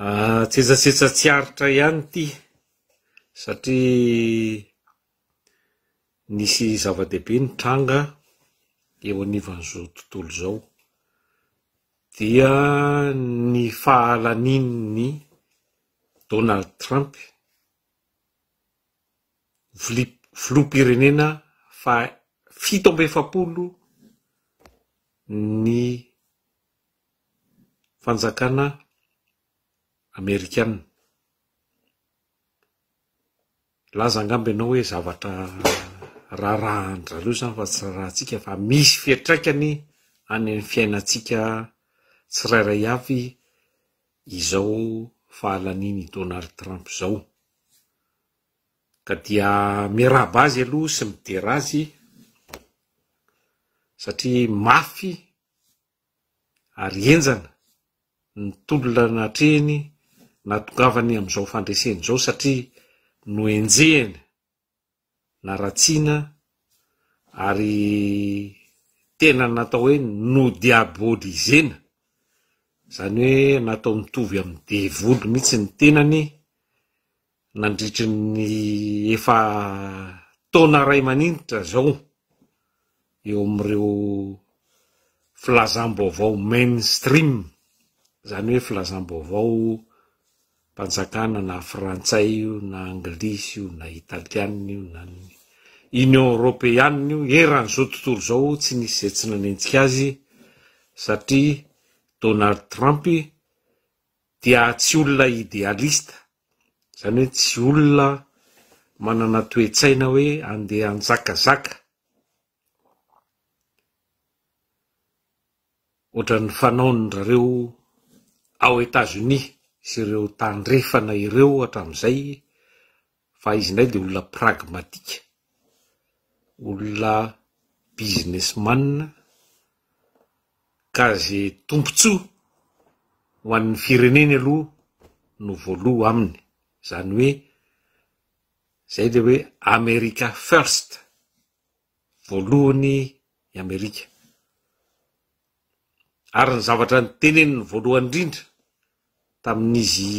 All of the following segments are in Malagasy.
Antsetsasetsa tsy aritra ihany ity satria nisy zava-dehibe nitranga eo anivon'izao tontolo izao. Dia ny fahalanian'i Donald Trump, fli- filoham-pirenena faha fito amby efapolo ny fanjakana amerikana. Laza angamba ianao hoe zavatra raharahan-dry zareo izany fa tsy raharahantsika fa misy fiantraikany any amin'ny fiainantsika tsirairay avy izao fahalanian'i Donald Trump izao. Ka dia miarahaba azy aloha sy midera azy satria mafy ary henjana ny tolona natrehiny natongavany amin'izao fandreseny izao satria nohenjehina, naratsiana ary tena natao hoe nodiabolisena, izany hoe natao nitovy amin'ny devoly mihitsy ny tenany nandritry ny efa taona iray maninitra izao eo amin'ireo filazam-baovao mainstream, izany hoe filazam-baovao mpanjakana na frantsay io na anglisy io na italiana io na ny Union Europeana io, eran'izao tontolo izao tsy nisy izay tsy nanenjika azy satria Donald Trump dia tsy olona idealista, izany hoe tsy olona manana toe-tsaina hoe andeha hanjakazaka ohatran'ny fanaon-dRareo ao Etats-Unis sy ireo tandrefana ireo hatramin'izay, fa izy indray dia olona pragmatika, olona businessman ka ze tombotsoa ho an'ny fireneny aloha no voaloha aminy, zany hoe zay le hoe America first. voalohany i Amerika. Ary ny zavatra niteneniny voalohany indrindra tamin'izy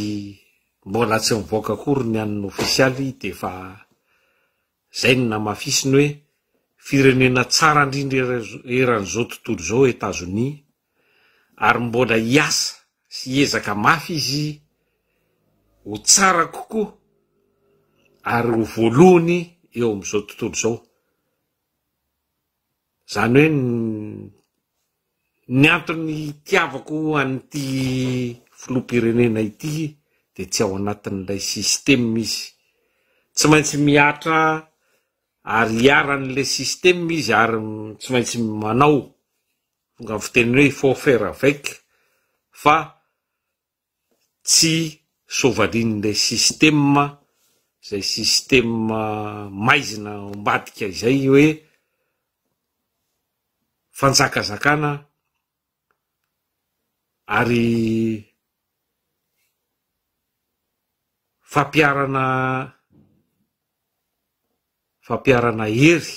mbola tsy nivoaka akory ny an'ny ofisialy dia efa izay no namafisiny hoe firenena tsara indrindra eran'izao tontolo izao Etazonia, ary mbola hiasa sy hiezaka mafy izy ho tsara kokoa ary ho voalohany eo amin'izao tontolo izao. Izany hoe ny antony hitiavako an'ity filoham-pirenena ity dia tsy ao anatin'ilay système izy. Tsy maintsy mihatra ary hiharan'ilay système izy ary tsy maintsy manao. Tonga amin'ny fiteny hoe il faut faire avec fa tsy soavalin'ilay système izay système maizina ao ambadika izay hoe fanjakazakana ary fampiharana fampiharana hery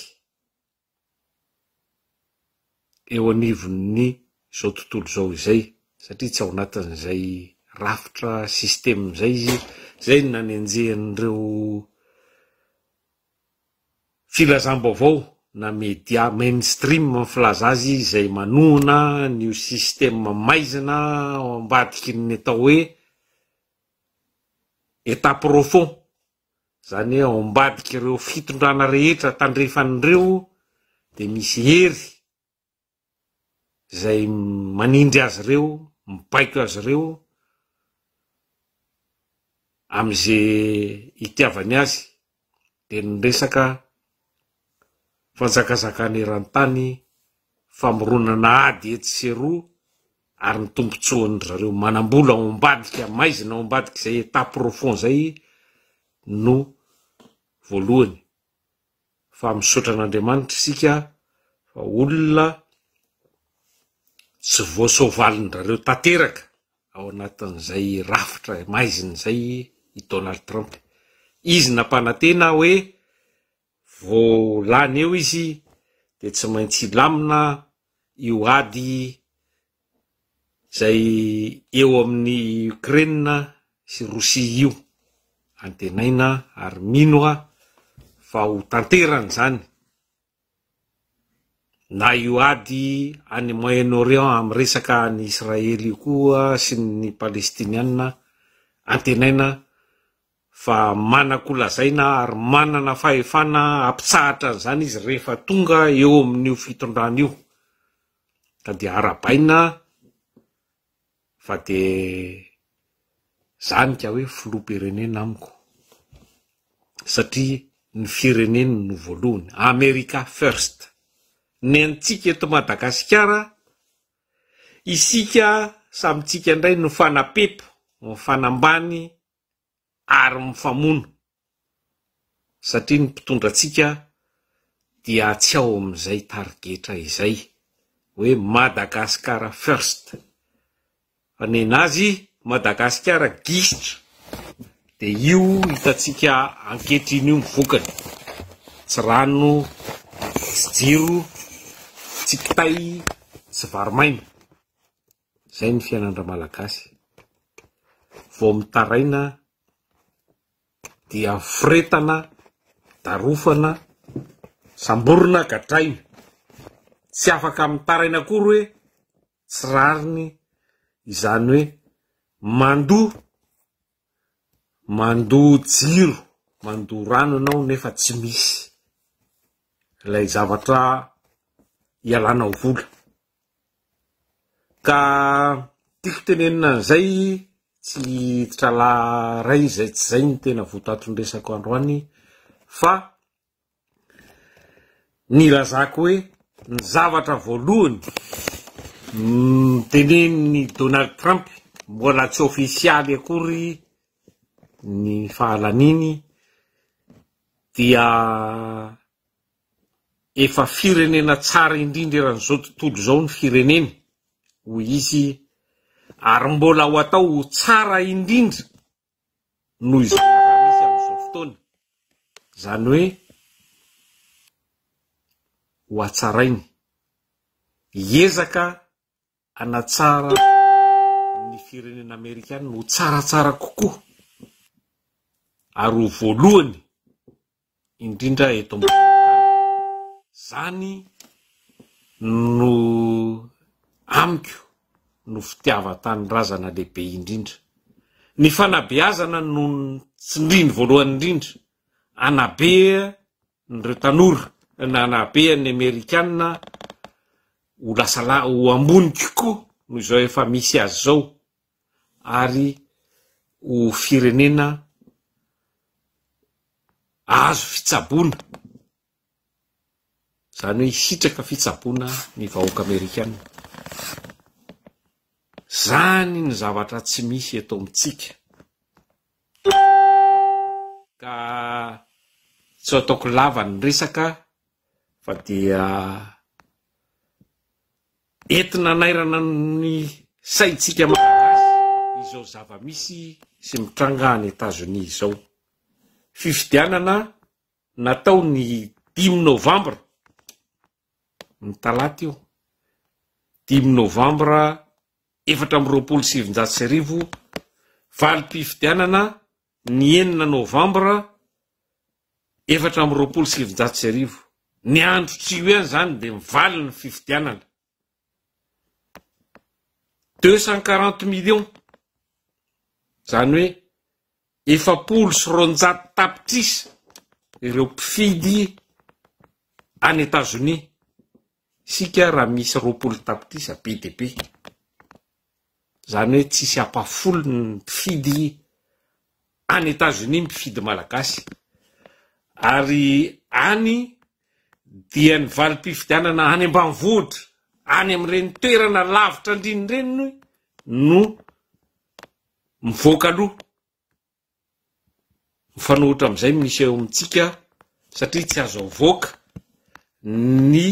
eo anivon'ny izao tontolo izao izay, satria tsy ao anatin'izay rafitra, système izay izy, izay no nanenjehan'ireo filazam-baovao na media mainstream ny filaza azy izay manohana an'io système maizina ao ambadiky ny atao hoe état profond. Izany hoe ao ambadik'ireo fitondrana rehetra tandrefan'ireo dia misy hery izay manindry azy ireo, mibaiko azy ireo amin'izay itiavany azy, dia ny resaka. fanjakazakana eran-tany, famoronana ady etsy sy eroa ary ny tombotsoan-dry zareo manam-bola ao ambadika maizina ao ambadik'izay état profond izay no voalohany fa misaotra an'Andriamanitra isika fa olona tsy voasoavalin-dry tanteraka ao anatin'izay rafitra maizina izay i Donald Trump, izy nampanantena hoe Vao lany eo izy dia tsy maintsy hilamina io ady izay eo amin'i Ukraine sy Rosia io. Antenaina ary mino aho fa ho tanterany izany na io ady any Moyen-Orient amin'ny resaka an'i Israely io koa sy ny Palestiniana, antenaina fa manan-kolazaina ary manana fahefana hampitsahatra an'izany izy rehefa tonga eo amin'io fitondrana io, ka dia arahabaina fa dia izany ka hoe filoham-pirenena amiko, satria ny fireneny no voalohany, America first, ny antsika eto Madagasikara, isika samintsika indray no fanapepo, mifanambany. ary mifamono satria ny mpitondra antsika dia tsy ao amin'izay tarigetra izay hoe Madagascar first fa ny an'azy Madagasikara gisitra dia io hitantsika ankehitriny io ny vokany tsy rano tsy jiro tsy kitay tsy vary maina Zay ny fiainan-dRamalagasy. Vao mitaraina dia foretana, darofana, samborina, gadraina. Tsy afaka mitaraina akory hoe tsy rariny izany hoe mandoa, mandoa jiro, mandoa rano ianao nefa tsy misy ilay zavatra ialana vola. Ka tiako tenenina an'izay tsy hiditralahy iray izay tsy izay ny tena votoatin-dresako androany fa ny ilazako hoe ny zavatra voalohany tenenin'i Donald Trump mbola tsy ofisialy akory ny fahalaniany dia Efa firenena tsara indrindra eran'izao tontolo izao ny fireneny, hoy izy, ary mbola ho atao ho tsara indrindra noho izay efa misy amin'izao fotoana, izany hoe hohatsarainy. Hiezaka hanatsara ny firenena amerikana ho tsaratsara kokoa ary ho voalohany indrindra eto zany no amiko no fitiavan-tanindrazana lehibe indrindra. Ny fanabeazana no tsindriny voalohany indrindra, anabe an'ireo tanora na anahabeany ny amerikana ho lasa la ho ambony kokoa noho izao efa misy azy izao ary ho firenena azo fitsaboana izany hoe hisitraka fitsaboana ny vahoaka amerikana zany ny zavatra tsy misy eto amintsika Ka tsy ho ataoko lava ny resaka fa dia enti-nanairana ny saintsika Malagasy izao zava-misy sy mitranga any Etazonia izao. Fifidianana natao ny dimy novambra. ny talata io, dimy novambra efatra amby roapolo sy sivinjato sy arivo, valim-pifidianana ny enina novambra efatra amby roapolo sy sivinjato sy arivo. Ny andro tsy ho eo ihany izany dia mivaly ny fifidianana. Deux cent quarante millions, izany hoe efapolo sy roanjato tapitrisa ireo mpifidy any Etazonia, isika raha misy roapolo tapitrisa be dia be. Izany hoe tsisy hampafolo ny mpifidy any Etazonia mpifidy Malagasy ary any dia ny valim-pifidianana any ambanivohitra, any amin'ireny toerana lavitra andriny ireny no mivoaka aloha. Mifanohitra amin'izay misy eo amintsika satria tsy azo avoaka ny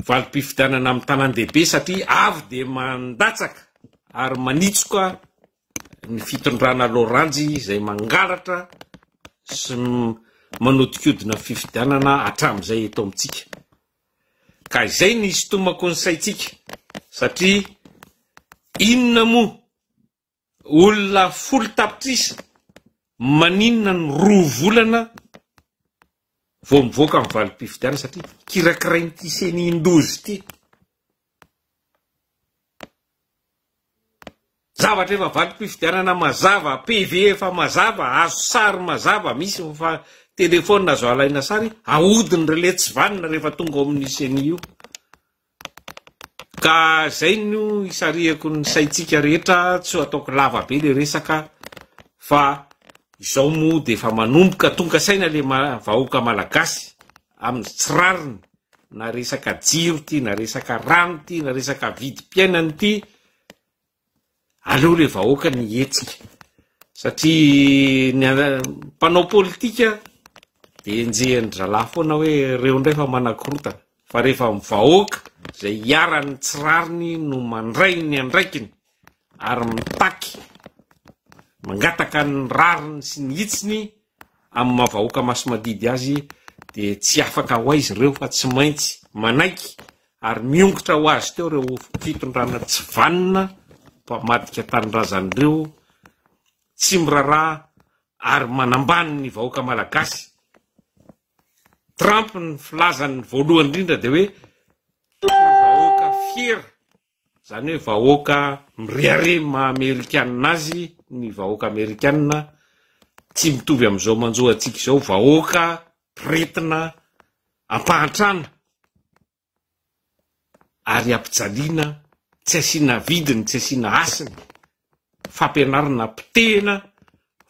valim-pifidianana amin'ny tanàn-dehibe satria avy dia mandatsaka ary manitsoka ny fitondrana loranjy izay mangalatra sy manodikodina fifidianana hatramin'izay eto amintsika. Ka izay no isintomako ny saintsika satria inona moa Olona folo tapitrisa maninona no roa volana vao mivoaka ny valim-pifidianana satria kirakirain'ity ceni ndozy ity. Zavatra efa valim-pifidianana mazava, PV efa mazava, azo sary mazava, misy efa telefaonina azo alaina sary, ahodin'ireo letsivanona rehefa tonga ao amin'ny ceni io. Ka zay no isarihako ny saintsika rehetra tsy ho ataoko lava be le resaka fa izao moa dia efa manomboka tonga saina le vahoaka malagasy amin'ny tsy rariny na resaka jiro ity na resaka rano ity na resaka vidim-piainana ity Aleo le vahoaka ny hihetsika satria ny mpanao politika de enjehin'ny dralahy foana hoe reo ndray efa manakorotana fa rehefa ny vahoaka zay iharan'ny tsy rariny no mandray ny andraikiny ary mitaky mangataka ny rariny sy ny hitsiny amin'ny maha vahoaka masi-madidy azy dia tsy afaka ho aiza ireo fa tsy maintsy manaiky ary miongotra ho azy teo ireo fitondrana tsy vanona mpamadika tanindrazany ireo tsy miraraha ary manambany ny vahoaka malagasy Trump ny filazany voalohany indrindra dia hoe vahoaka fiera Izany hoe vahoaka mirehareha ny maha amerikanina azy ny vahoaka amerikanina, tsy mitovy amin'izao manjo antsika izao, vahoaka mpiretina ampahantrana ary ampijaliana, tsy asiana vidiny, tsy asiana hasiny fampianarana potehina,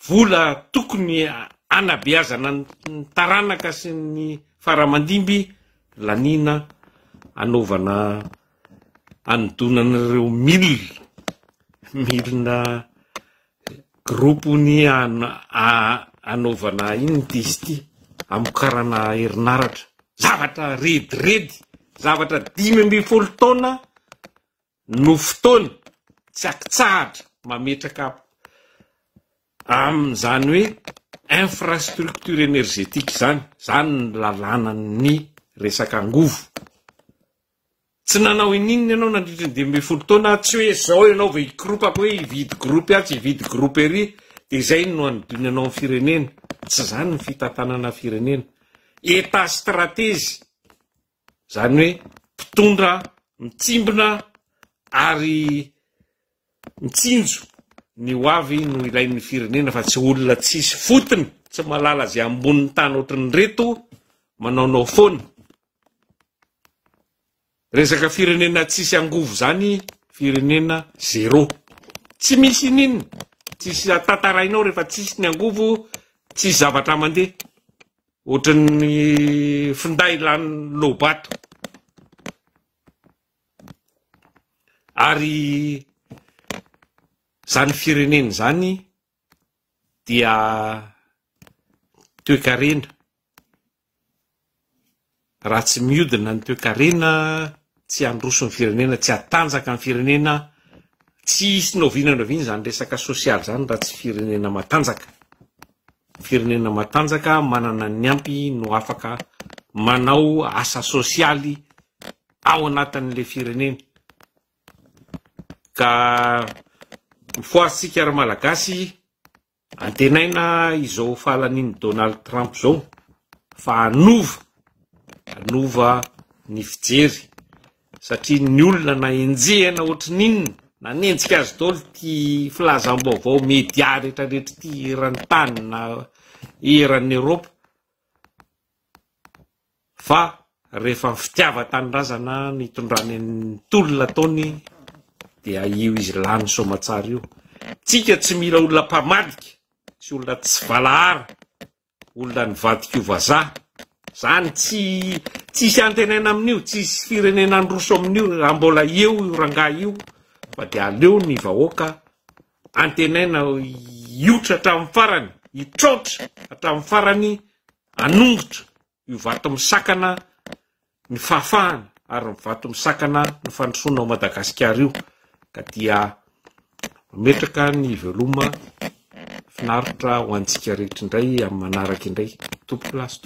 vola tokony hanabeazana ny taranaka sy ny faramandimby laniana hanaovana hanodonana ireo milina, milina gropony hanaovana inona ity izy ity, hamokarana herinaratra, zavatra rediredy, zavatra dimy ambin'ny folo taona. no fotoana tsy akitsahatra mametraka amin'izany hoe infrastructure energetique izany, izany ny lalànan'ny resaka angovo. Tsy nanao in'inona ianao nandritry ny dimy ambin'ny folo taona, tsy hoe izao ianao vao hikoropaka hoe hividy gropy atsy hividy gropy ery dia izay no hanodinanao amin'ny firenena, tsy izany ny fitantanana firenena. Etat stratège. Izany hoe mpitondra mitsimbina ary mitsinjo ny ho avy no ilain'ny firenena fa tsy olona tsisy fotony, tsy mahalala izay ambonin'ny tany ohatran'ireto manaonao foana. Resaka firenena tsisy angovo izany firenena zero. Tsy misy ininona, tsisy tantarainao rehefa tsisy ny angovo, tsisy zavatra mandeha. Ohatran'ny finday lany lobato. Ary izany firenena izany dia toekarena. Raha tsy miodina ny toekarena, tsy handroso ny firenena, tsy hatanjaka ny firenena, tsy hisy na oviana na oviana izany resaka sosialy izany raha tsy firenena matanjaka. Ny firenena matanjaka manana ny ampy no afaka manao asa sosialy ao anatin'ilay fireneny. Ka mifohaza isika ry Malagasy Antenaina izao fahalanian'i Donald Trump izao fa hanova hanova ny fijery satria ny olona na enjehina ohatry ny inona nanenjika azy daholo ity filazam-baovao media rehetra rehetra ity eran'ny tany na eran'ny Eropa. fa rehefa ny fitiavan-tanindrazana no itondrany ny tolona ataony dia io izy lany soamatsara io, tsika tsy mila olona mpamadika sy olona tsy valahara, olona nivadika ho vazaha, zany tsy tsisy antenaina amin'io, tsisy firenena handroso amin'io raha mbola eo io rangahy io fa dia aleo ny vahoaka, Antenaina hiotra hatramin'ny farany, hitraotra hatramin'ny farany hanongotra io vato misakana ny fahafahana ary ny vato misakana ny fandrosoana ao Madagasikara io ka dia mametraka ny veloma finaritra ho antsika rehetra indray amin'ny manaraka indray. Tompoko lasitra.